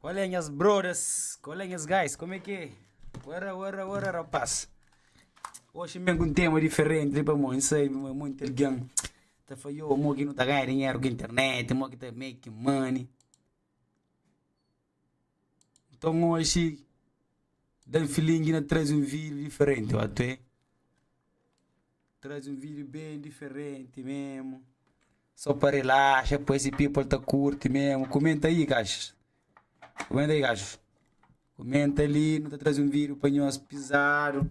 Qual é nhas brothers? Qual é nhas guys? Como é que é? Ora, ora, ora, rapaz. Hoje vem com um tema diferente, tipo, amor, não sei, mas muito alguém. Tá falhou, amor, que não tá ganhando dinheiro com a internet, amor, que tá making money. Nton oxi, Dan Filingi na traze un vídiu diferenti, ó tuê. Traze un vídiu ben diferenti mesmu, só pa relaxa, pa esse people ta curti mesmu. Kumenta aí, gajus. Kumenta aí, gajus. Kumenta ali, nu ta traze un vídiu pa nhos pizadu.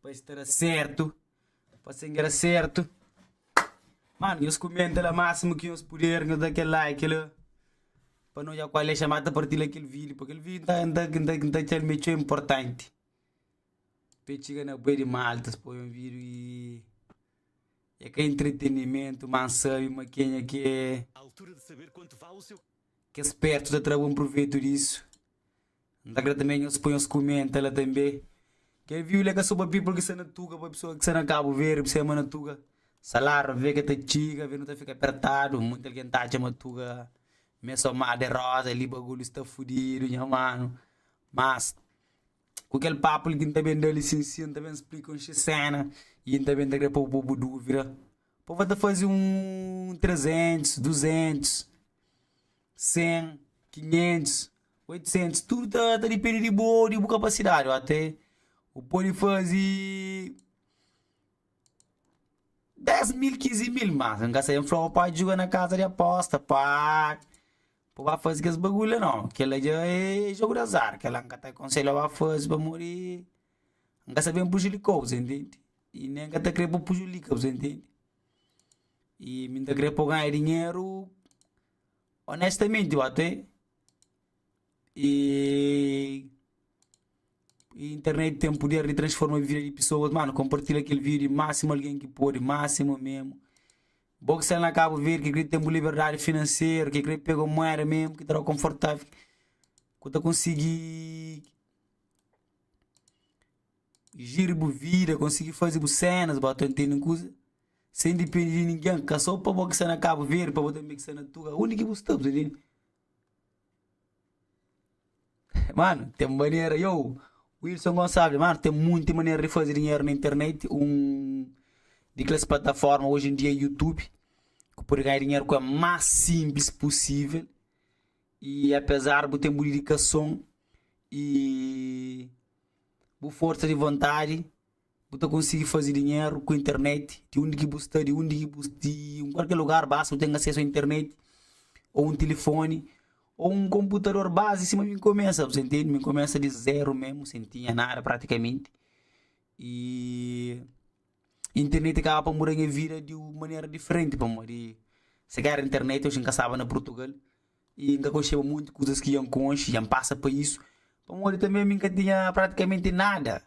Pa es ta da sertu Pa se n'ka da sertu Mano, nhos kumenta la másimu ki nhos puder Nhos da kel like la Pa no dja kual é xa Mata partila kel vídiu Pa kel vídiu n'ta txal mi é txeu inportanti Pa e txiga na bué di maltas Pa un vídiu ki É ka intritenimentu ma n'sabe ma kenha ki é Kes spertu ta tra bon pruvetu disu. N ta kre tanbê nhos poi nhos kume, N ta la tanbê, kel viu li é ka so pa people ki sta na tuga, pa pesoa ki sta na Kabu Verdi, p'se ama na tuga. Salário ave ka ta txiga, ave nu ta fika apertadu. Monti algen ta atxa ma tuga m'é so mar de rosa, li bagulhu sta fudidu, nha manu. Mas, ku kel papu li ki N ta ben da li sin sin, N ta ben splika un xi séna i N ta ben ta kre pô-bu pô-bu dúvida. Pova ta faze un trezentus, duzentus, sen, kinhentus, 800 tudu ta ta dipende di bo di bu kapasidadi ó até bu pode faze 10 mil 15 mil mas n ka sai n fla bo pa djuga na kaza di aposta pa pa ba faze kes bagulhu la non kela dja é jogu di azar kela n ka ta konselha ba faze pamodi n ka sta ben prujudika bo sen tende i nen n ka ta kre pa prujudika bo sen tende i mi n ta kre pa bu ganha dinheru onestamenti ó até e internet tem poder de transforma vida de pessoas mano compartilha aquele vídeo máximo alguém que pode máximo mesmo Boa que está na Cabo Verde que queria ter uma liberdade financeira que queria pegar moeda mesmo que terá confortável que tá conseguir gire boa vida conseguir fazer boas cenas bato entendem coisa sem depender de ninguém que só para boa que está na Cabo Verde para boa também que está na Tuga onde que você está entendeu? Mano, ten manera, yow, Wilson Gonçalves, mano, ten monti manera di faze dinheru na internet, un di keles plataforma oji en dia é YouTube, ku pode ganha dinheru ku el más sinplis pusivel, y apezar bu ten bu dedikason y bu forsa di vontadi. Bu ta konsigi faze dinheru ku internet di undi ki bu sta, di undi ki bu di un kualker lugar basta bu ten asesu a internet o un tilifoni o un konputador bazi sima mi kumesa bu ta ntende, mi kumesa di zeru memu sen tinha nada pratikamenti y internet kaba pa muda nha vida di un manera diferenti pamodi si ka era internet oxi nka staba na purtugal y nka konxeba monti kuzas ki nha nkonxe nha npasa pa isu pamodi tanbe mi nka tinha pratikamenti nada.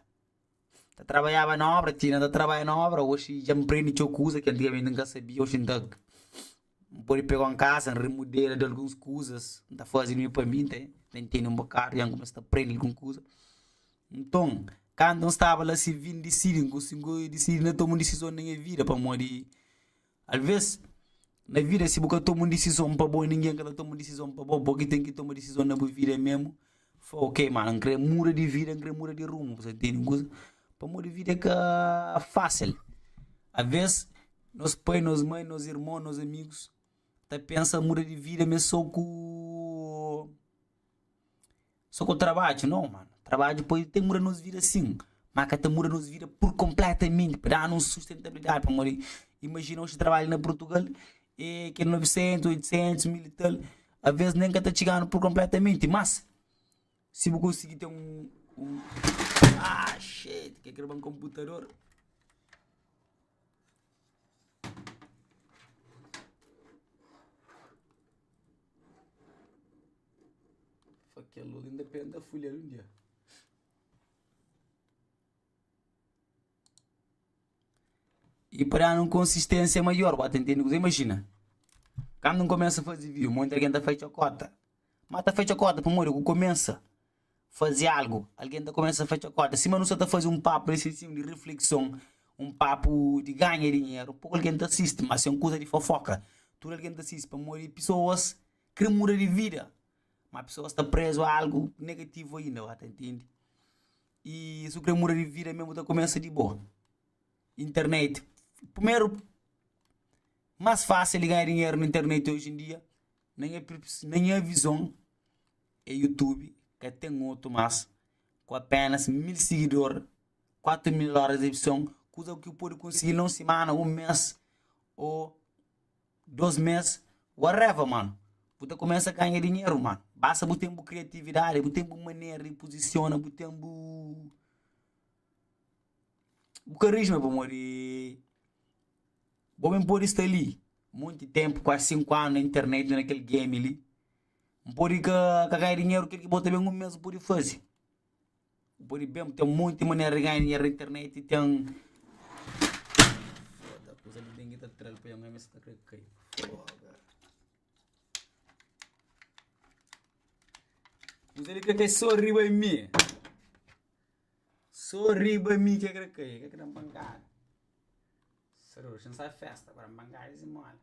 Ta trabaiaba na obra, ti na ta trabaia na obra, oxi dja N prende txeu kuza ki antigamenti N ka sabia, oxi N ta N pode pega un kasa, N rimudela di alguns kuzas, N ta faze mi pa mi, N ta ntende un bokadu, dja N kumesa ta prende algun kuza. Nton, kantu N staba la sirvidu, N disidi, N disidi na toma un disizon na nha vida pamodi. Alvês, na vida, si bu ka toma un disizon pa bo i ningen ka ta toma disizon pa bo, bo ki ten ki toma disizon na bu vida mésmu. Fla, Ok, mano, N krê muda di vida, N krê muda di rumu. Bu ta intende un kuza? Pamodi vida é ka fásil. Alvês, nos pai, nos mai, nos irmon, nos amigus ta pensa muda di vida, ma é sô ku Só ku trabadju? Nau, mano. Trabadju pode ten muda nos vida sin, má ka ta muda nos vida pur konpletamenti, pa da-nu un sustentabilidadi. Pamodi, imajina oji trabadju na Purtugal é kel novesentus, oitosentus, mil i tal, alvês nen ka ta txiga-nu pur konpletamenti. Mas, si bu konsigi ten un axii, kel krê ba un konputador. Fakel log inda pé nta fulhel un dia E pa danu un konsisténsia maior, bu ta ntende kuzê? Imajina, kandu N kumesa faze vinhu, monti algen ta fai txokota. Má ta fai txokota pamodi ku kumesa faze algu, algen ta kumesa fai txokota. Sima nu sta ta faze un papu na isensiu di reflekson, un papu di ganha dinheru, poku algen ta sisti, má si é un kuza di fofoka, tudu algen ta sisti pamodi pesoas. kre muda di vida, ma pesoas ta prezu algu negativu ainda ba ta ntende. I si bu kre muda di vida mem bu ta kumesa di bo. Internet, primeru mas fasil di ganha dinheru na internet oji en dia na nha na nha vizon e yutubi, ka ten otu mas ku apenas mil sigidor, kuatu mil oras di vizon, kuza ku pode konsigi na un simana, un mes o. 2 mês, whatever mano, bu ta kumesa ganha dinheru mano, basta bu ten bu kriatividadi, bu ten bu manera di puzisiona, bu ten bu bu karisma pamodi bo ben podi sta li monti ténpu, kuazi 5 anu na internet na kel game li, n podi ka ka ganha dinheru kel ki bo ta ben un mês bu podi faze. Bu pode ben ten monte manera de ganha dinheiro na internet e ten Foda, kuza li ninguém tá atrás pra ganhar, mas tá querendo cair. Foda. Kuza li quer cair só riba mi. Só riba mi que quer cair, que quer bangar. Só riba, não sai festa, agora bangar e mola.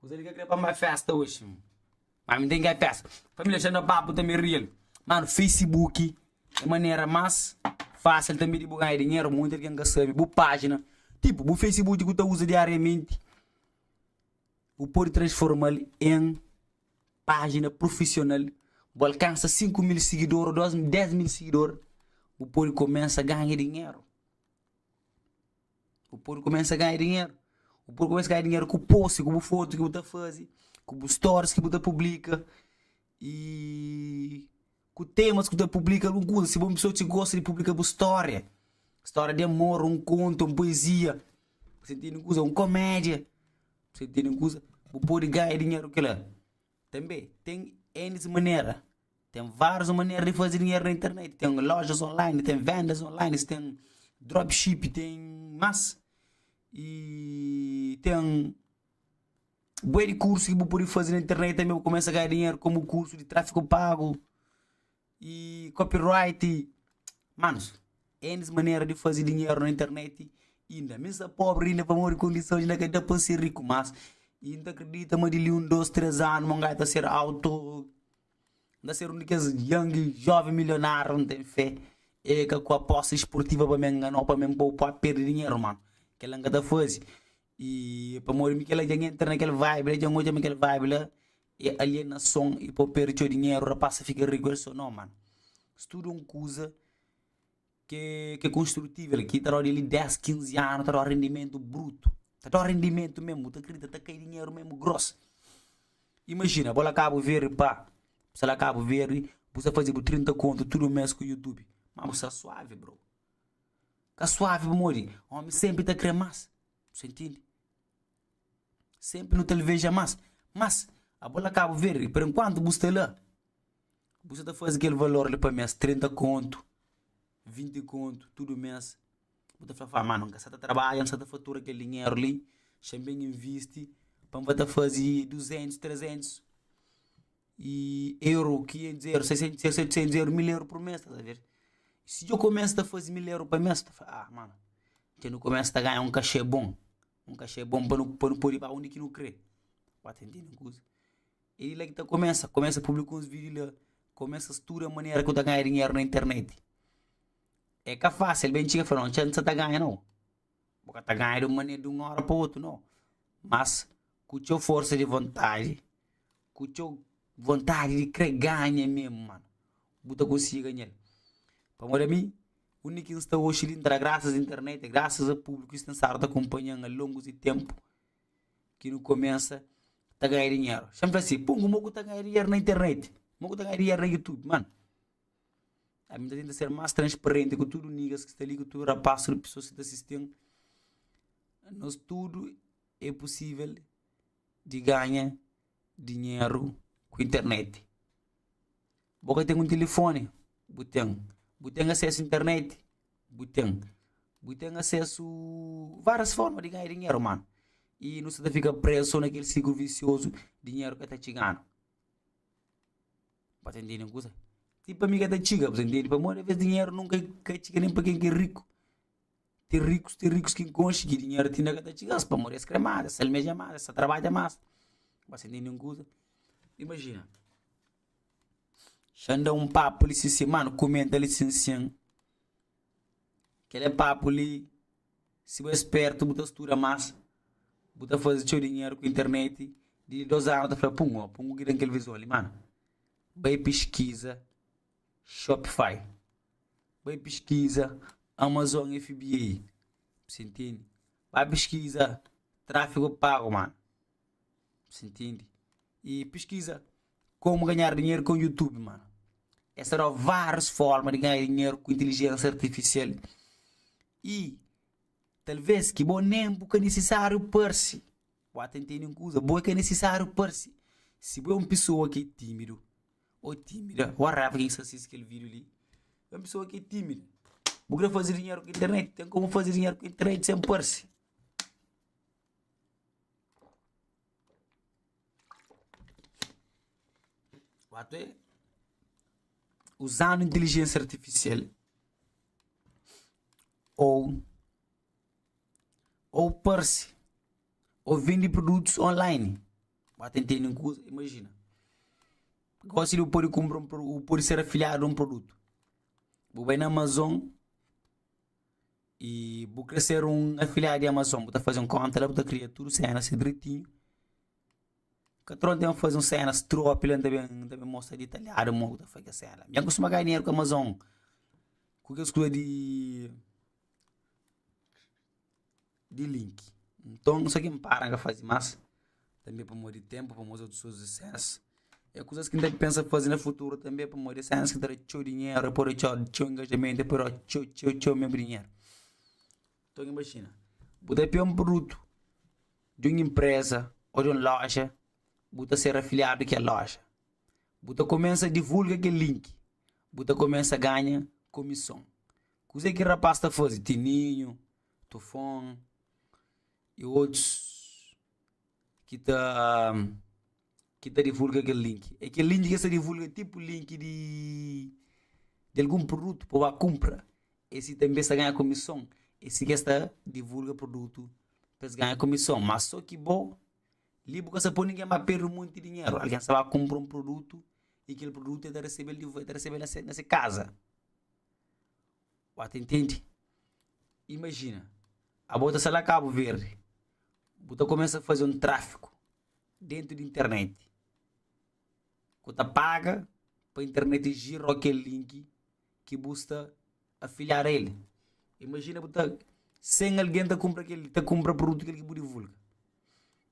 Kuza li ka krê pa mi bai fésta oji Má mi ten ka i pésta Família dja na papu tanbê rial Mano, facebook é manera más fásil tanbê di bu ganha dinheru Monti algen ka sabe bu pájina Tipu, bu facebook ti bu ta uza diariamenti Bu pode transforma-l en pájina prufisional Bu alkansa sinku mil sigidor ô dôs, dés mil sigidor Bu pode kumesa ganha dinheru Bu pode kumesa ganha dinheru. Bu pode kumesa ganha dinheru ku post, ku bu fotu ki bu ta faze, ku bu stories ki bu ta publika y ku temas ki bu ta publika. Algun kuza, si bu é un pesoa ki gosta di publika bu stória, stória di amor, un kontu, un puezia, si bu tene un kuza, un komédia, si bu tene un kuza, bu pode ganha dinheru ku kila. Tanbê ten N manera, ten vários manera di faze dinheru na internet, ten lojas online, ten vendas online, ten dropship, ten más. E ten bué di kursu ki bu pode faze na internet tanbê pa kumesa ganha dinheru, komu kursu di tráfiku pagu. Y copyright Manus, N manera di fazi dinheru na internet inda mi sta pobri inda pamodi kondisons inda ka da pa N ser riku mas y N ta kridita ma di li un dos tres anu mon gai ta ser auto N ta ser un di kes young jovem milionáriu N ten fé e ka ku apostas sportiva pa mi enganou pa mi N poupa perde dinheru mano kela N ka ta fazi i pamodi mi kela djan entra na kel vibe la djan odja mi kel vibe la e alienason i pa perde txeu dinheru rapaz sa fika riku el so no mano si tudu un kuza ke ke konstrutivel ki ta da odi li 10, 15 anu ta da rendimentu brutu ta da rendimentu mesmu bu ta kridita ta kai dinheru mesmu gros imajina bo la ka bu verdi pa se la ka bu verdi bu sa faze bu 30 kontu tudu mes ku youtube ma bu sta suavi bro Ka suavi pamodi omi senpri ta kre mas. Bu sta ntindi? Senpri nu ta alveja mas. Mas, abo la Kabu Verdi, per enkuantu bu sta la, bu sta ta fazi kel valor li pa mes, trinta kontu, vinti kontu, tudu mes. Bu ta fla, fla, ma, no, N ka sta ta trabadja, N sta ta fatura kel dinheru li, xa N ben invisti pa N ba ta fazi duzentus, trezentus. i eru ki e dzeru se se se se dzeru mil eru por mês estás a ver si djo começa ta fazi mil eru pa mês ta fala ah mano nte nu começa ta ganha um cachê bom um cachê bom pa nu pa nu podi ba undi ki nu kre ba ta intende um kuza e di la ki ta começa começa publica uns video la começa studa manera ku ta ganha dinheru na internet e ka facil ben txiga fala no txeu nta ta ganha nau Bu ka ta ganha di un manera, di un óra pa otu, nau. Mas ku txeu forsa di vontadi, ku txeu vontadi di kre ganha mésmu, mano, bu ta konsigi ganha-l. Pamodi ami, undi ki N sta oxi li, N ta da grasas a internet, grasas a públiku ki snsadu ta kunpanha-m a longu di ténpu, ki nu kumesa ta ganha dinheru. Xan fla si, Pungu, mo ku ta ganha dinheru na internet? Mo ku ta ganha dinheru na Youtube? Mano, ami ta tenta ser más transparenti ku tudu nigas ki sta li ku tudu rapás tudu pesoas ki ta sisti-m nos tudu é pusivel di ganha dinheru ku internet bo ka ten un tilifoni bu ten bu ten asésu internet bu ten bu ten asésu várias forma di ganha dinheru mano i nu sta ta fika prézu so na kel sikrlu visiozu dinheru ka ta txiganu Ba ta entende un kusa? Ti pa mi ka ta txiga, bu ta entende? Pamodi alvês dinheru nunka ka é txiga nen pa ken ki é riku. Ten rikus, ten rikus ki N konxe ki dinheru ti inda ka ta txiga-s pamodi es krê más, es almeja más, es ta trabadja más. Ba ta entende un kusa? Imajina, xa N da un papu li sin-sen, mano, kumenta li sin-sen. Kel é papu li, si bu é spértu bu ta studa más, bu ta faze txeu dinheru ku internet, di li dôs anu ta fla pum ó, pum ku ki ten kel vizon li mano, bai piskiza Shopify, bai piskiza Amazon FBA, bu sientende, bai piskiza tráfigu pagu mano. Sintindi? E piskiza komu ganhar dinheru ku YouTube, mano. É só várias formas de ganhar dinheiro com inteligência artificial. E talvez que bom nem porque é necessário parse. Boa entender uma coisa, bom é que é necessário parse. Se bom é uma pessoa que é tímido, ou tímida, ou raiva que está assistindo aquele vídeo ali, é uma pessoa que é tímida. Vou querer fazer dinheiro com internet, tem como fazer dinheiro com internet sem parse. Uzanu intilijensia artifisial ou ou parse ou vende produtus online ba ten teni kuza imagina gosi di bu pode kumpra bu pode ser afiliadu un produtu bu bai na amazon i bu kre ser un afiliado di amazon bu ta faze un konta la bu ta kria tudu senas ser dretinhu ka tron ten faze un senas tropi la nta ben mostra ditaliadu mo bu ta faze kes sena la nben kustuma ganha dinheru ku amazon ku kes kuza di di link nton nu sa ki npara nka fazi mas tanbe pamodi di tenpu pamodi otus kusas di séns é kusas ki nta pensa fazi na futuru tanbe pamodi séns ki ta da txeu dinheru é pode txeu txeu ingajamentu é pode da txeu txeu txeu megu dinheru nton imajina bu ta pia un produtu di un inpreza o di un loja bu ta ser afiliadu di kel loja bu ta kumesa divulga kel link bu ta kumesa ganha kumison kuzê ki rapás ta fazi tininhu tufon y otus ki ta ki ta divulga kel link é kel link ki es ta divulga é tipu link di di algun produtu pa bu ba kunpra é si tanbe es ta ganha kumison é si ki es ta divulga produtu pa es ganha kumison ma so ki bo li bu ka sta poi ningen ba perde un monti dinheru algen sta ba kunpra un produtu y kel produtu el ta resebel di vo el ta resebel na se kaza Ua ta intendi. Imajina, abo ta sai la Kabu Verdi, bu ta kumesa faze un trafiku dentu di interneti, ku ta paga pa interneti jira o kel linki ki bu sta afiliadu a el. Imajina bu ta, sen algen ta kumpra kel, ta kumpra prudutu kel ki bu divulga.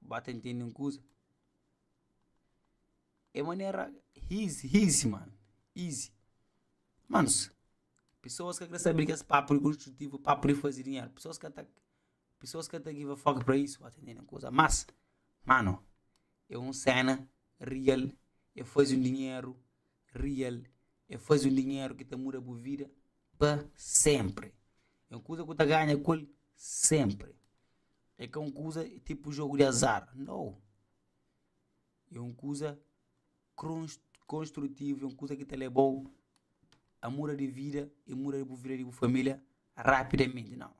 Ba ta intende un kuza. É manera izi, izi mano, izi. Manos, pesoas ka krê sabe di kes papu di konstrutivu, papu di faze dinheru, pesoas ka ta, pesoas ka ta give a fuck pa izi, ba ta intende un kuza. Mas, mano, é un séna real, é faze un dinheru. Rial é faze un dinheru ki ta muda bu vida pa sénpri. É un kuza ki bu ta ganha ku el sénpri. É ka un kuza tipu jogu di azar. Nau! É un kuza konstrutivu, é un kuza ki ta leba-u a muda di vida i muda bu vida di bu família rapidamenti. Nau!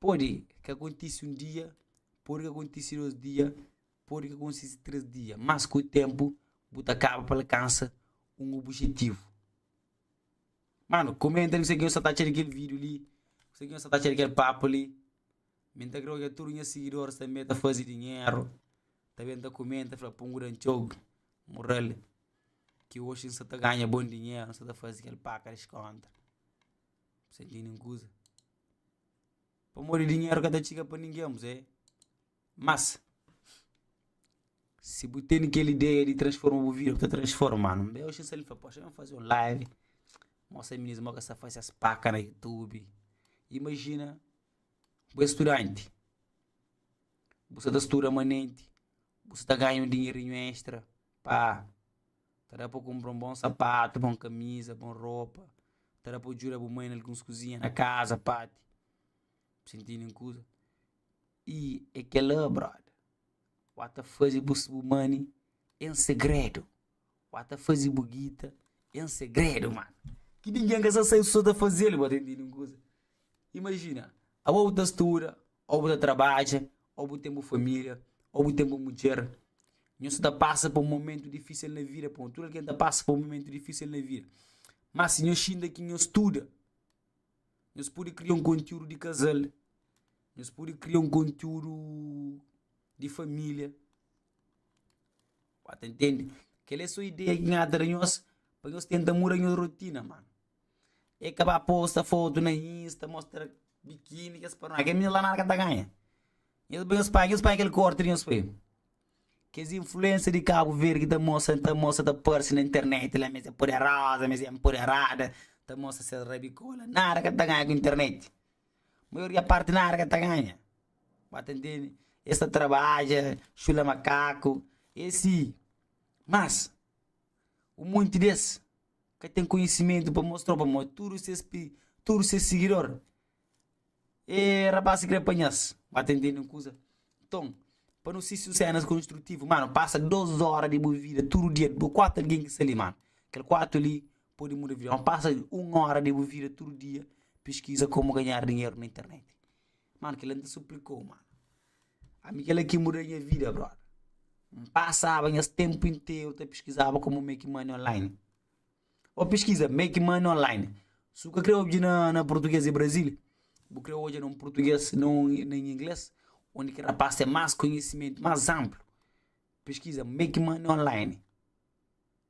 Pode ka kontise un dia, pode ka kontise dôs dia. Pode ka konsiste três dia, mas ku ténpu bu ta kaba pa alkansa un obijetivu. Mano, komenta li kuzê ki nhos sa ta atxa di kel vídiu li, kuzê ki nhos sa ta atxa di kel papu li. Mi N ta krê odja tudu nha sigidoris tanbê ta faze dinheru, ta ben ta komenta ta fla pungu da N txobe, mural, ki oxi N sa ta ganha bon dinheru, N sa ta faze kel paka des kóntra. Bu sa intende un kuza? Pamodi dinheru ka ta txiga pa ningen, kuzê? Mas, si bu tene kel ideia di transforma bu vida, bu ta transformanu. N bai oxi nsal, N fla, poxa, n faze un live, mostra minis mo ka sa fase es paka na youtube. Imajina bu é studanti, bu sa ta studa manenti, bu sa ta ganha un dinherinhu extra pa ta da pa kunpra un bon sapatu, bon kamiza, bon ropa, ta da pa djuda bu mai na alguns kuzinha na kaza, pati. Bu sintidi un kuza? I é kel-la, brother. Wá ta faze bu money en segredo. Wá ta faze bu guita en segredo, mano. Ki ningen ka sta sai, sô ta faze-l, bo ta intende un kuza? Imajina, aô bu ta studa, aô bu ta trabadja, aô bu ten bu família, aô bu ten bu mudjer. Nhos ta pasa pa un momentu difísil na vida, pamodi tudu algen ta pasa pa un momentu difísil na vida. Má si nhos xinta ki nhos studa, nhos pode kria un konteúdu di kazal. Nhos pode kria un kontiúdu di família. Ba ta ntende? Kel é sô ideia ki N da nhos pa nhos tenta muda nhos rotina. Má é ka ba posta fotu na Insta, mostra bikini, kes panoá. Kel minda la nada ka ta ganha. Nhos bai, nhos pai, nhos pai kel korti di nhos pai. Kes influensa di Kabu Verdi ki ta mostra, ta mostra, ta parse na internet la ma es é poderoza, ma es é enpoderada, ta mostra ses rabikó la. Nada ka ta ganha ku internet. Maioria parti nada ka ta ganha, ba ta ntende, es ta trabadja, chula makaku, e si, mas un monti di es ka ten konhisimentu pa mostrau pamodi tudu ses tudu ses sigidor e rapaz ki krê panha-s, ba ta ntende un kuza. Nton, pa nu sisti un sénas konstrutivu, mano, pasa dôs óra di bu vida tudu dia, bu kuatu algen ki sta li, mano, kel kuatu li pode muda vida. Mas pasa un ora de bu vida tudu dia piskiza komu ganhar dinheru na internet. Mano, kila n ta suplikau, mano. Ami kila ki muda nha vida, brother. N pasaba nhas tempu interu ta piskizaba komu make money online. O piskiza make money online. Si bu ka kre obje na, na português de Brasil, bu kre oja na un português, na un, na un inglês, onde ki rapaz tem más konhisimentu, más amplu. Piskiza make money online.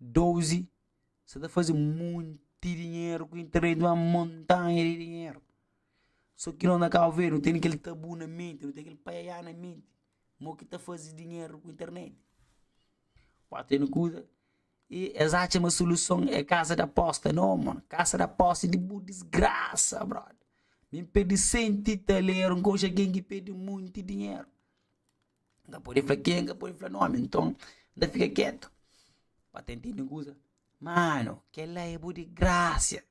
12 sa ta faze monti dinheru ku internet uma montanha di dinheru só ki nós na cabo verde não tem kel tabu na mente não tem kel paiaiá na mente mo ki ta faze dinheru ku internet pode tene kuza e es atxa ma soluson é casa de aposta não mano casa de aposta é di bu desgraça brother mi perde cento e talero nka oxa ken ki perde monti dinheru N ka pode fla kenka, pode fla nomi Nton N ta fika ketu pa ten tende un kuza Mano, kel-la é bu digrásia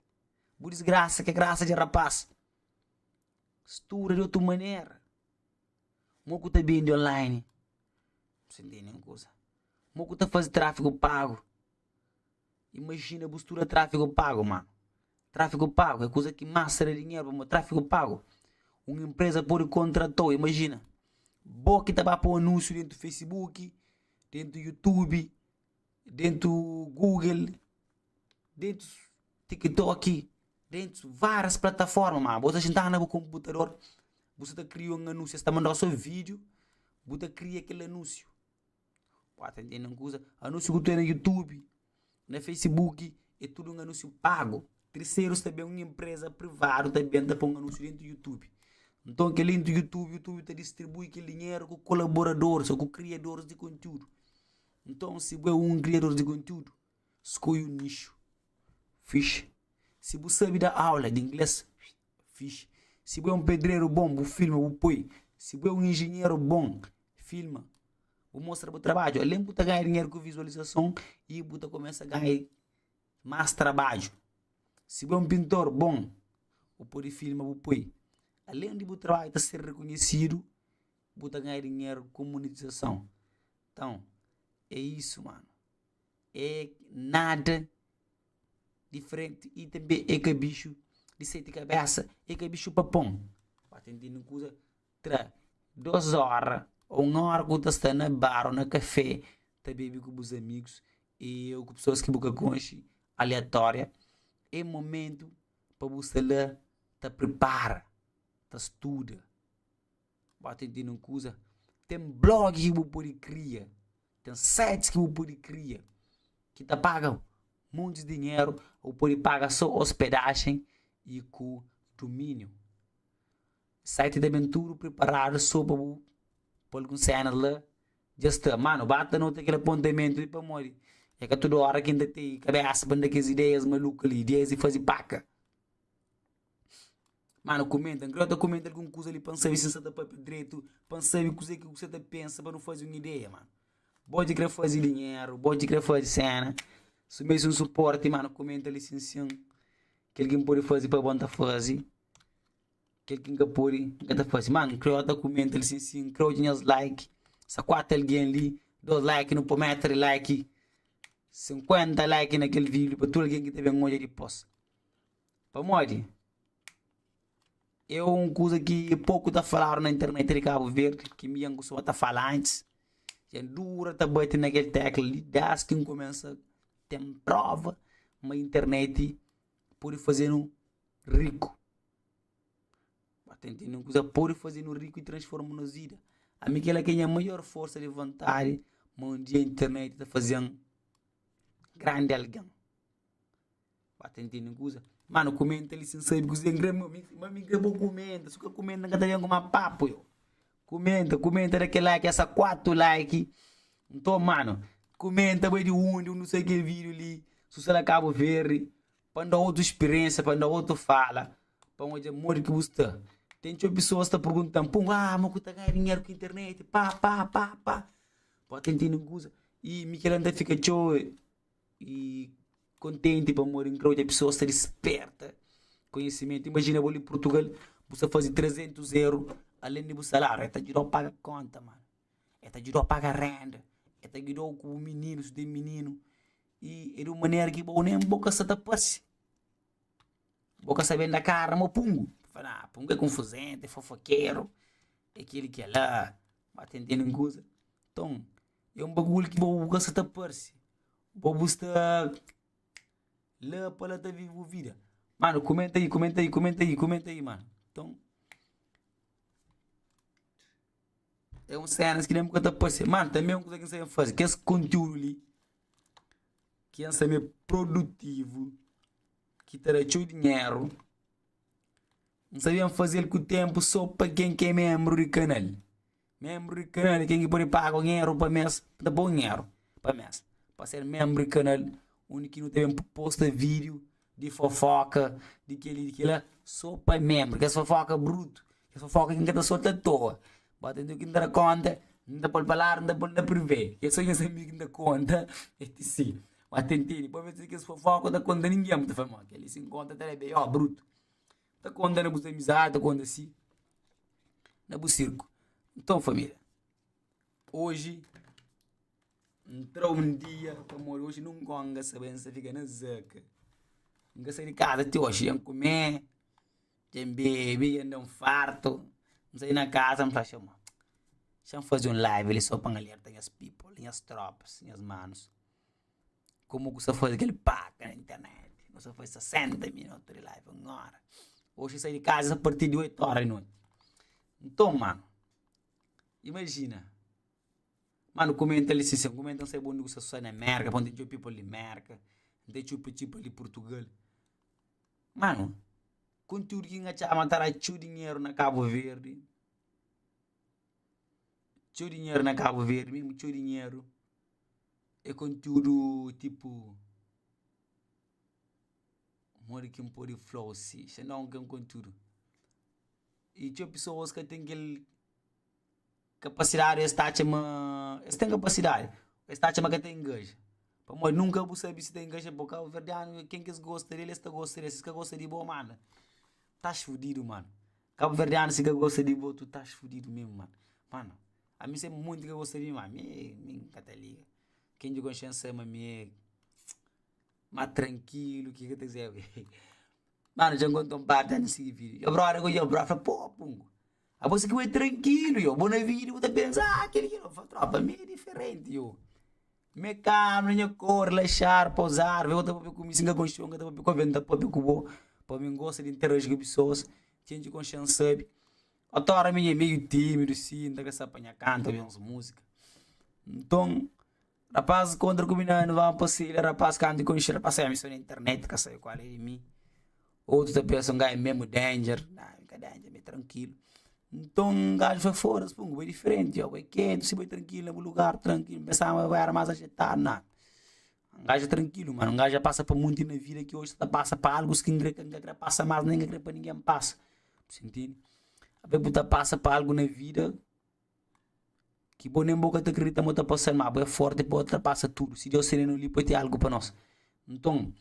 Bu disgrasa ka é grasa dja rapás Studa di otu manera Mo ku ta bendi online N ka tende un kuza Mo ku ta faze tráfigu pagu. Imajina bu studa tráfigu pagu, mano. Tráfigu pagu é kuza ki más ta da dinheru pamodi tráfigu pagu un inpreza pode kontrata-u. Imajina bo ki ta ba pô anúnsiu déntu facebook, déntu youtube, déntu google, déntu tiktok, déntu várias plataforma. Mano, bo ta xintadu na bu konputador, bu sta ta kria un anúnsiu, es ta manda-u sô vídiu, bu ta kria kel anúnsiu. 4 di nen kuza anúnsiu ku ta na youtube na facebook é tudu un anúnsiu pagu terserus ta ben un enpreza privadu ta ben ta poi un anúnsiu dentu youtube nton kel-li intu youtube youtube ta distribui kel dinheru ku kolaboradoris ô ku kriadoris di konteúdu nton si bu é un kriadoris di konteúdu Skodje un nixu, fix. Si bu sabe da aula di inglês, fix. Si bu é un pedreru bon, bu filma, bu poi. Si bu é un injinheru bon, filma, bu mostra bu trabadju. Alén bu ta ganha dinheru ku vizualizason y bu ta kumesa ganha más trabadju. Si bu é un pintor bon, bu pode filma, bu poi. Alén di bu trabadju ta ser rekonhesidu, bu ta ganha dinheru ku monetizason. Nton, é isu, mano. é nada diferenti i tanbê é ka bixu di seti kabésa, é ka bixu papon. Ba ta intende un kuza, tra dôs óra ô un óra ku bu ta sta na bar ô na kafé ta bebe ku bus amigus i ô ku pesoas ki bu ka konxe, aleatória, é momentu pa bu sta la ta pripara, ta studa. Ba ten di nun kuza. Ten blog ki bu pode kria, ten sites ki bu pode kria ki ta paga montis dinheru, ô bu pode paga sô ospedajen y ku dumíniu. Site ta ben tudu priparadu sô pa bu pô alguns sénas la, dja sta. Mano, ba ta nota kel apontamentu li pamodi é ka tudu óra ki N ta ten kabésa pa N da kes ideias maluku li, ideias di faze paka. Má nu kumenta, nkrê-u ta kumenta algun kuza li pa N sabe si N sa ta pâpia dretu, pa N sabe kuzê ki kuse ta pensa, pa nu faze un ideia, mano. Bo dja krê faze dinheru, bo dja krê faze séna, sumia si un supórti, má nu kumenta li sinsin. Kel ki N pode faze pa bo N ta faze, kel ki N ka pode N ka ta faze. Má nkrê-u ta kumenta li sinsin, nkrê-u odja nhas like, sa kuatu algen li, dôs like, nu pô meta di like, sinkuénta like na kel vídiu pa tudu algen ki ta ben odja dipôs. Pamodi é un kuza ki poku ta faladu na internet di Kabu Verdi, ki mi ankusaba ta fala antis. Ja dura ta bati na kel tékla li dés ki nkumensa ten próva ma internet pode faze-nu riku. Ba ta intende un kuza pode faze-nu riku i transforma nos vida. Ami kel-la ki é nha maior forsa di vontadi ma un dia internet ta faze-m grandi algen. Ba ta entende un kuza. Mano, kumenta li sen sabe kuzê n kre. Ma, mi, ma mi kre bo kumenta. Si bu ka kumenta, n ka ta ben ku más papu eu. Kumenta, kumenta, da kel like, essa kuatu like. Nton, mano, kumenta bai di undi, undi bu sai kel vídiu li, si bu sta na Kabu Verdi, pa N da otu spiriénsia, pa N da otu fala, pa N odja modi ki bu sta. Ten txeu pesoas ta pergunta-m, Pum, ah, ma ku ta ganha dinheru ku internet? Pá, pá, pá, pá. Ba ta entende un kuza. I mi kel-la N ta fika txeu. e kontenti pamodi n krê odja pesoas ta disperta konhisimentu. Imajina bo li Purtugal, bu sta faze 300 eru alen di bu salariu, e ta djuda-u paga konta, mano, e ta djuda-u paga renda, e ta gidou ku bu mininu, si bu ten mininu, i e di un manera ki bo nen bo ka sa ta parse, bo ka sa ben da kara ma pungu, bu fala, ah pungu e kunfuzenta, e fofokeru, e kili, kila, ba ten-ten un kuza. Nton. É un bagulhu ki bo bu ka sta ta parse bo bu sta la pa la ta vive bu vida mano kumenta ahi kumenta ahi kumenta ahi kumenta ahi mano nton é un cenas ki bo bu ka ta parse mano tanbe un kuza ki sabe faze kes konteúdu li ki es sabe produtivu ki ta da txeu dinheru n'sabe faze-l ku ténpu so pa ken ki é ménbru di kanal Menbru di kanal i ten ki pode paga un eru pa mes, pa ta pa un eru pa mes, pa ser menbru di kanal undi ki nu ta ben posta video di fofoka di keli di kila so pa menbru kes fofoka brutu kes fofoka ki n ka ta solta atoa ba ta ntiu ki n ta da konta n ta pol pa ladu n ta pol na prive ke so nhas amigu ki ta konta etc ba ta ntende pabia kes fofoka ta konta ningen bu ta fla ma keli si n konta ta da be yo brutu. Ta konta na bus amizadi, ta konta si na bus sirku. Nton família, oji N tra un dia pamodi oji nun ngonga sa ben sa fika na zâka. N ka sai di kaza ti oji, dja N kume, dja N bebe, dja N da-m fartu. N sai na kaza N fla txeu ma, Xa N faze un live li sô pa N alerta nhas people, nhas tropas, nhas manus. Komu ku sa faze kel paka na internet, no sa faze 60 minutu di live un ora. Oxi sai di kaza parti di 8 ora di noti. Nton mano, imajina, mano kumenta li si sen kumenta n'sai bônde ku sa sosadi na Mérka, pô n'ten txeu people di Mérka, n'ten txeu people di Purtugal. Mano, konteúdu ki n'atxaba ma ta da txeu dinheru na Kabuverdi. txeu dinheru na kabu verdi mésmu txeu dinheru é konteúdu tipu modi ki n pode fla-u si se nton n ten konteúdu i txeu pesoas ka ten kel kapasidádi ô es ta atxa ma es ten kapasidádi ô es ta atxa ma ka ta ingaja pamodi nunka bu sabe si ta ingaja bo kabuverdianu ken ki es gosta di el es ta gosta di el si es ka gosta di bo manda tas fudidu mano Kabuverdianu si ka gosta di bo tu tas fudidu mesmu man mana ami se monti ka gosta di mi ami mi n ka ta liga ken di konxe n sai ma mi e ma trankilu ki ka ta kuzê ui manu dja nkonta un pata n sigi vidi yo brother ku yo bro fla pô pungu abo si ki bo e trankilu yo bo na vidi bo ta pensa ah kil ki li yo fla tropa mi e diferenti yo Me kama, na nha kor, relaxar, pousar, vê-u ta papia ku mi, singa konxon, ka ta papia ku alven, ta papia ku bo, pa mi N gosta di interagi ku pesoas, txeu dje konxe N sabe, otora mi nha meiu timidu si, N ta ka sabe pa nha kanta obi uns musika, nton rapazis kontra ku mi na N va N pasei la, rapaz kantu konxe rapaz, sa mi so na internet, ka sabe kual é di mi. Otus ta pensa, N ga é memu danger. Nah, mi ka danger, mi é trankilu. Nton, un gaju fla, Foda-s, pô, bu é diferenti, ôu, bu é kentu, si bu é trankilu na bu lugar, trankilu. N pensaba bu éra más ajetadu. Nah, un gaju é trankilu, mano. Un gaju dja pasa pa monti na vida ki oji ta ta pasa pa algus ki N kre, N ka kre pasa más, nen N ka kre pa ningen pasa. Bu sisti-m? Avé bu ta pasa pa algu na vida Ki bo nen bo ka ta kridita ma bo ta pasa-l, má bo é fórti pa ultrapasa tudu. Si Deus sende-nu li, poi ten algu pa nos. Nton,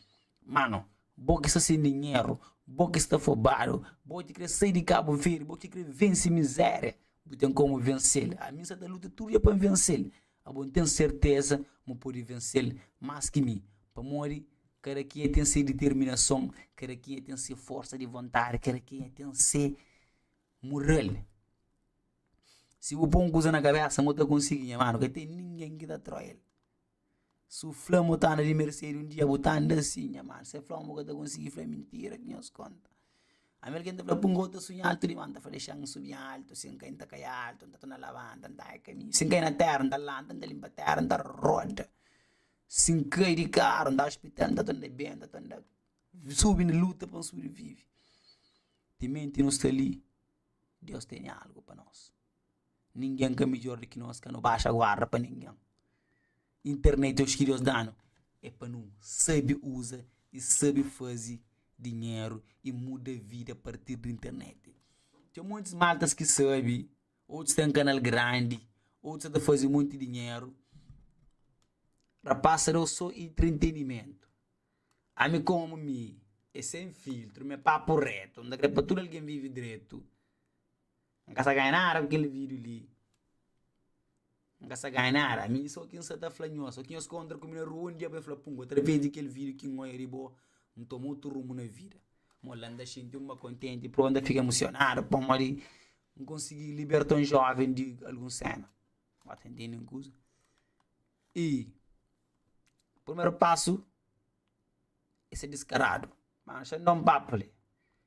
mano, bo ki sta sen dinheru, bo ki sta fobadu, bo ki ta krê sai di Kabu Verdi, bo ki ta krê vense mizéria, bu ten kómu vense-l. Ami N sta ta luta tudu dia pa N vense-l. Abo N ten serteza ma N pode vense-l más ki mi. Pamodi kada kenha ten se diterminason, kada kenha ten se forsa di vontadi, kada kenha ten se mural. Si bu pô un kuza na kabésa ma bu ta konsigi, nha mano, ka ten ningen ki ta atrói el. Si bu fla ma bu ta anda di Mercedes un dia, bu ta anda si, nha mano. Si el fla ma bu ka ta konsigi, el fla mintira ki nhos konta. Ami algen ta fla, pungô, N ta sunha altu dimás, N ta fla, Dexa N subi altu, si N kai, N ta kai altu, N ta torna labanta, N ta anha kaminhu. Si N kai na téra, N ta lanta, N ta linpa téra, N ta roda. Si N kai di karu, N ta ospital, N ta torna ben, N ta torna subi na luta pa N subrivive. Timenti nu sta li. Deus tene algu pa nos. Ningin ka midjor di ki nos, ka nu baxa guarda pa ningin. Internet oji ki Deus danu e pa nu sabi uza i sabi fazi dinheru i muda vida a partir di internet. Ten montis maltas ki sabi, otus ten kanal grandi, otus sa ta fazi monti dinheru. Rapaz, sa dau so intritenimentu. Ami komu mi é sen filtru mi é papu retu N ta kre pa tudu algen vivi dretu N ka sa ganha nada ku kel vidiu li N ka sa ganha nada mi so ki N sa ta fla nhos o ki nhos kontra ku mi na rua un dia bu ben fla pum atraves di kel vidiu ki N oia di bo N toma otu rumu na vida Mo la N ta xinti un ba kontenti pur N ta fika imusionadu pamodi N konsigi liberta un joven di algun sena bo ta intindi un kuza Y purmeru pasu é ser diskaradu. Má N xandá un papu li.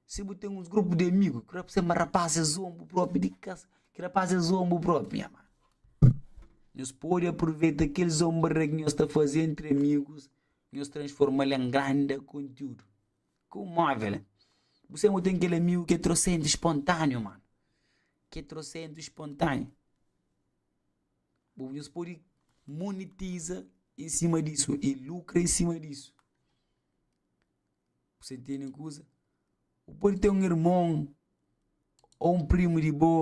Si bu ten uns grupu di amigu ki fla ma rapás es zoa-m bu própi di kas, ki rapás es zoa-m bu própi. Nha mano, nhos pode apruveita kel zonbria ki nhos ta faze entri amigus, nhos transforma-l en grandi kontiúdu. Ku móvel, bu senbra ten kel amigu ki é trosentu spontániu, mano. Ki é trosentu spontániu. Bo, nhos pode monetiza i sima disu, i lukra i sima disu. Bu sa ntende un kuza? Bu pode ten un irmon ô un primu di bo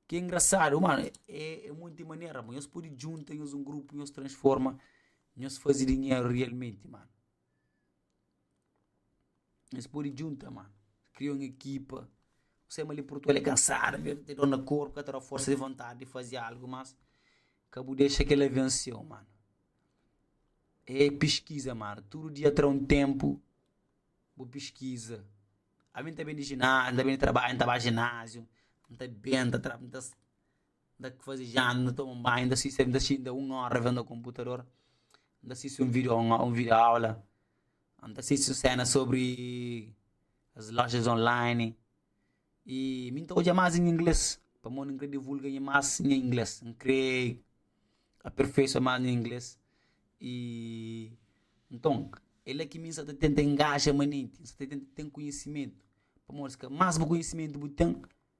ki é ingrasadu. Mano, é monti manera bo. Nhos pode djunta nhos un grupu, nhos transforma, nhos faze dinheru rialmenti, mano. Es pode djunta ma kria un ekipa. N sai ma li Portugal é kansadu, mê ta dor na korpu, ka ta da forsa di vontadi di faze algu mas ka bu dexa kel-la vense-u manu. É piskiza manu, tudu dia tra un ténpu bu piskiza. Ami N ta ben di jináziu, N ta ben di trabadju, N ta ba jináziu, N ta ben, N ta tra. Nda faze janta, nda toma un banhu, nda sisti, nda sisti nda un óra vêndu un konputador, nda sisti un vídeo, un vídeo-aula, nda sisti un séna sobri es lojas online. I mi N ta odja más nha inglês, pamodi N krê divulga más nha inglês, N krê aperfeisua más nha inglês. I nton, é la ki mi N sta ta tenta ingaxa manenti, N sta ta tenta ten konhisimentu, pamodi si ka más bu konhisimentu bu ten.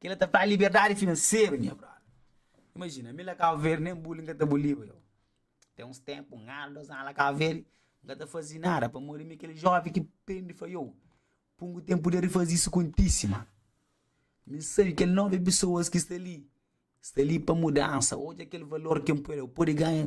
Kela ta fla liberdadi finanseru nha brother. Imajina, mi la Kau Verde nen buli nka ta buliba eu. Ten uns tempu, un anu, dos anu la Kau Verde, nka ta fazi nada pamodi mi kele jovi ki prende fla eu, pun ku tempu de rifazi isu kontisi mano. Mi N sabi kel novi pesoas ki sta li, sta li pa mudansa, odja kel valor ki N poi la, eu pode ganha.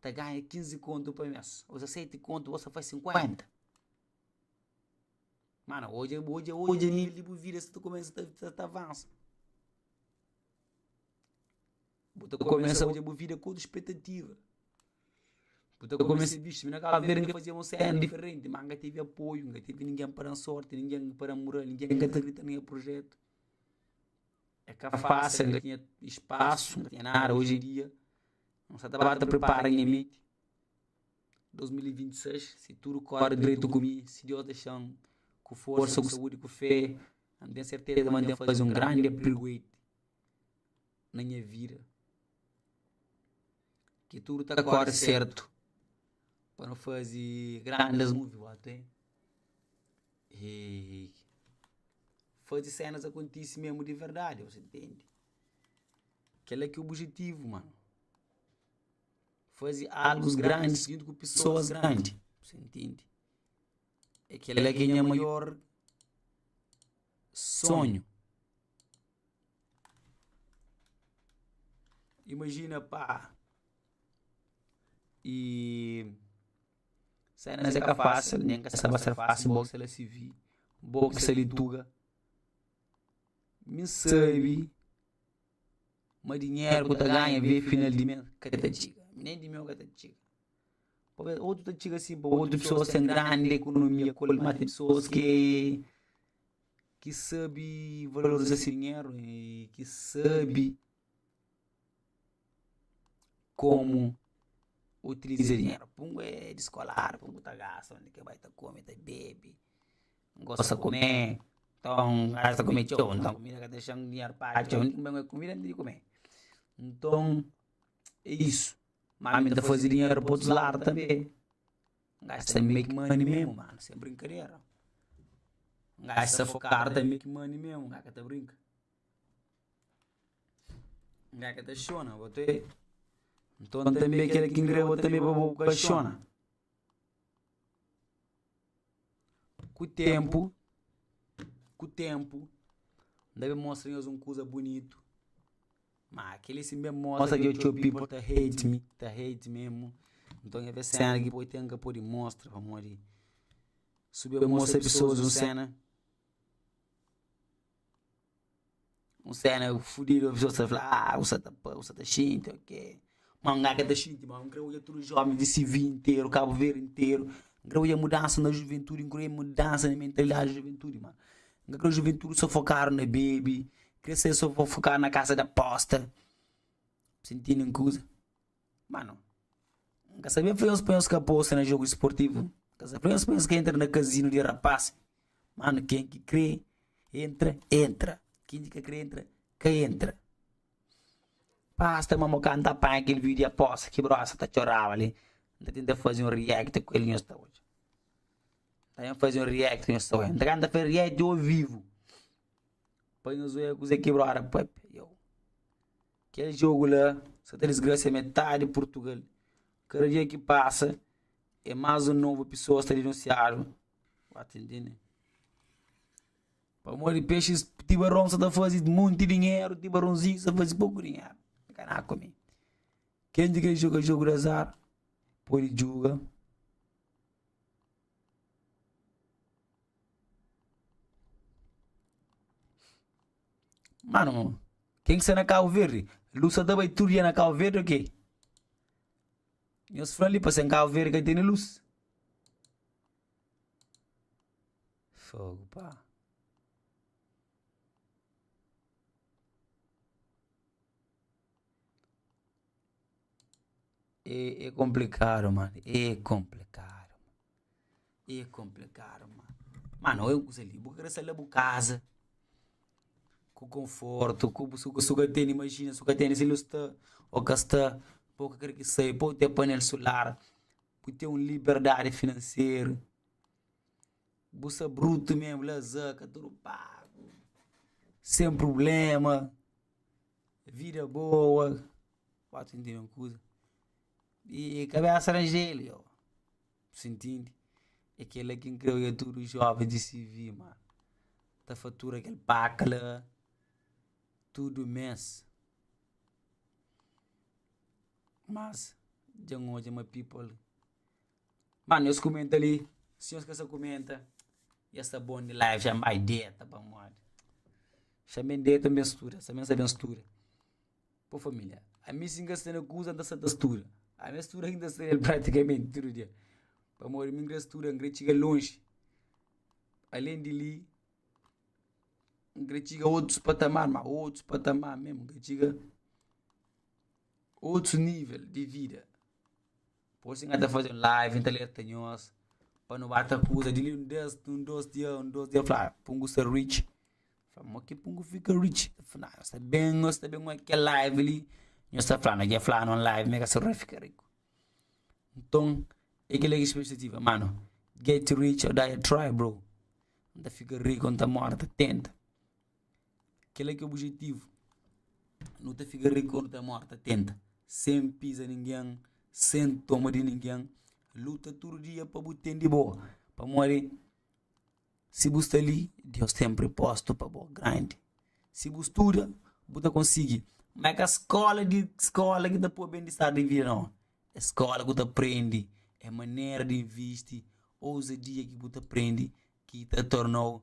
ta ganha kinzi kontu pa mes, o sa seti kontu bo sa faz sinkuenta. Mana odja bu odja odja nivel di bu vida sa ta kumesa ta ta ta avansa. Bu ta kumesa odja bu vida ku otu spetativa. Bu ta kumesa bixe, mi na Cabo Verde nka fazia un cena diferenti, ma nka tevi apoiu, nka tevi ningen pa dan sorti, ningen pa dan mural, ningen ka ta krita na nha prujetu. É ka fásil, ka tinha espasu, ka tinha nada. Oji en dia, N sa ta ba ta pripara nha menti. 2026, si tudu kóre dretu ku mi, si Deus dexa-m ku forsa, ku saúdi, ku fé, N ten serteza ma N ten faze un grandi apregoite na nha vida. Ki tudu ta kóre sertu pa nu faze grandis muvi. Hehehehe Faze sénas akontise mésmu di verdadi, ose ntende? Kel-la ki é obijetivu, mano Faze algus grandi djuntu ku pesoas grandi, ose ntende? É kel-la ki é nha maior sonhu Imajina, pa, i. Sénas é ka fásil, nen ka sa ba ser fásil, bo ki sa la si vi, bo ki sa li tuga. Mi sabe ma dinheru ku ta ganha ve final di mês ka ta txiga, nen di meu ka ta txiga. Talvês otu ta txiga si pa otu pesoas ten grandi ekonomia, kul ma ten pesoas ki ki sabe valoriza si dinheru i ki sabe. Komu utiliza dinheru. Pa un é descolado, pa un tá gasta, onde que vai tá come, tá bebe, gosta comer, então gasta comer tchau, então comida que deixa um dinheiro para tchau, onde que vai comer comida, onde que comer. Então, é isso. Mas me tá fazer dinheiro para outros lados também. Gasta make money mesmo, mano, sem brincadeira. Gasta focar também make money mesmo, gasta brinca. Nga ka ta xona bo te Nton tanbe kel ki nkrê bo tanbe pa bo ku ka xona Ku ténpu Ku ténpu N ta ben mostra nhos un kuza bunitu Má kel-li si N ben mostra dja txeu pípu ta hate mi Ta hate mésmu Nton nha ben séna ki bo ten N ka pode mostra pamodi Si bu ben mostra pesoas un séna Un séna fudidu, un pessoa sa fla, ah, usa ta pa, usa ta xinti, ok. Mas un gaga ta xinti, mas un kre odja tudu jomis di CV interu, Cabo Verde interu. N kre odja mudansa na juventude, n kre odja mudansa na mentalidadi di juventude, mas n ka kre juventude sa fokadu na bebe, kre sa sa fokadu na casa de aposta. Sintidu un kuza. Mano, N ka sabia fla-nhos pa nhos ka aposta na jogu isportivu. N ka sabia fla-nhos pa nhos ka entra na kazinu di rapás. Mano, ken ki krê entra, entra. Ken ki ka krê entra, ka entra. Basta ma mo ka N ta panha kel vídiu di apósta ki brosa ta txoraba li, N ta tenta faze un react ku el, nhos ta odja. N ta ben faze un react, nhos ta odja. Nta kau N ta faze react ovivu, pa nhos odja kuzê ki brosa ta pâpia. Iau. Kel jogu la sa ta disgrasia metadi Purtugal. Kada dia ki pasa e mas un novu pisoas ta dinunsiadu. Pamodi pexis tibaron sa ta fazi munti dinheru, tibaronzinhu sa fazi poku dinheru. Ken di kes joga jogu di azar podi juga Mano, ken ki sta na Kabu Verdi? Lus sa ta bai tudu dia na Kabu Verdi o ke? Nhos fla li pa sen Kabu Verdi ka e tene lus. Fogo, pa. E, e complicado, mano. E complicado. E komplikadu, ma. Ma no, eu kusa li, bu ka kre sa la bu kaza, ku konfortu, ku bu suka suka tene, imajina suka tene si lo sta o ka sta, po ka kre ki sai, po te panel sular, bu ten un liberdadi finanseru, bu sa brutu mesmu, lazá, ka tudu pagu, sen prublema, vida boa, ba ta intende un kuza, i kabesa ranjel, ioba. Sa ntindi? É kel-la ki N krê oja tudu jóven di CV ma ta fatura kel paka la tudu mês. Mas, dja N odja ma people. Mano, es kumenta li, si nhos ka sa kumenta, nhos sta bon di life ja. N bai deta pamodi fia mi N deta mi ben studa, sa mi N sa ben studa. Bo família, ami si N ka sta na kuza N ta sta ta studa ami a studa inda sta el pratikamenti tudu dia pamodi mi N kre studa N kre txiga lonji alén di li N kre txiga otus patamar ma otus patamar mesmu N kre txiga otus nível di vida. Gosi N ta faze un live, N ta alerta nhos Pa nu ba ta kuza di li un des Un dos dia, un dos dia Fla Pungu sta rich Fla mo ki Pungu fika rich Fla nhos ta ben, nhos ta ben oi kel live li Nhos ta fla, nhos dja fla na un live Mi ka ser roi fika riku Nton, e ki la ki spextativa Mano, get rich or die try bro N ta fika riku, N ta mora ta tenta. Kel-la ki é obijetivu, nu ta fika riku ô nu ta móre ta tenta, sen piza ningen, sen toma di ningen. Luta tudu dia pa bu ten di bo, pamodi si bu sta li, Deus ten pripozitu pa bo grandi. Si bu studa, bu ta konsigi, má é ka skóla di skóla ki ta pô-u ben-di-star di vida, nau. É skóla ku ta prende, é manera di invisti, ouzadia ki bu ta prende ki ta torna-u.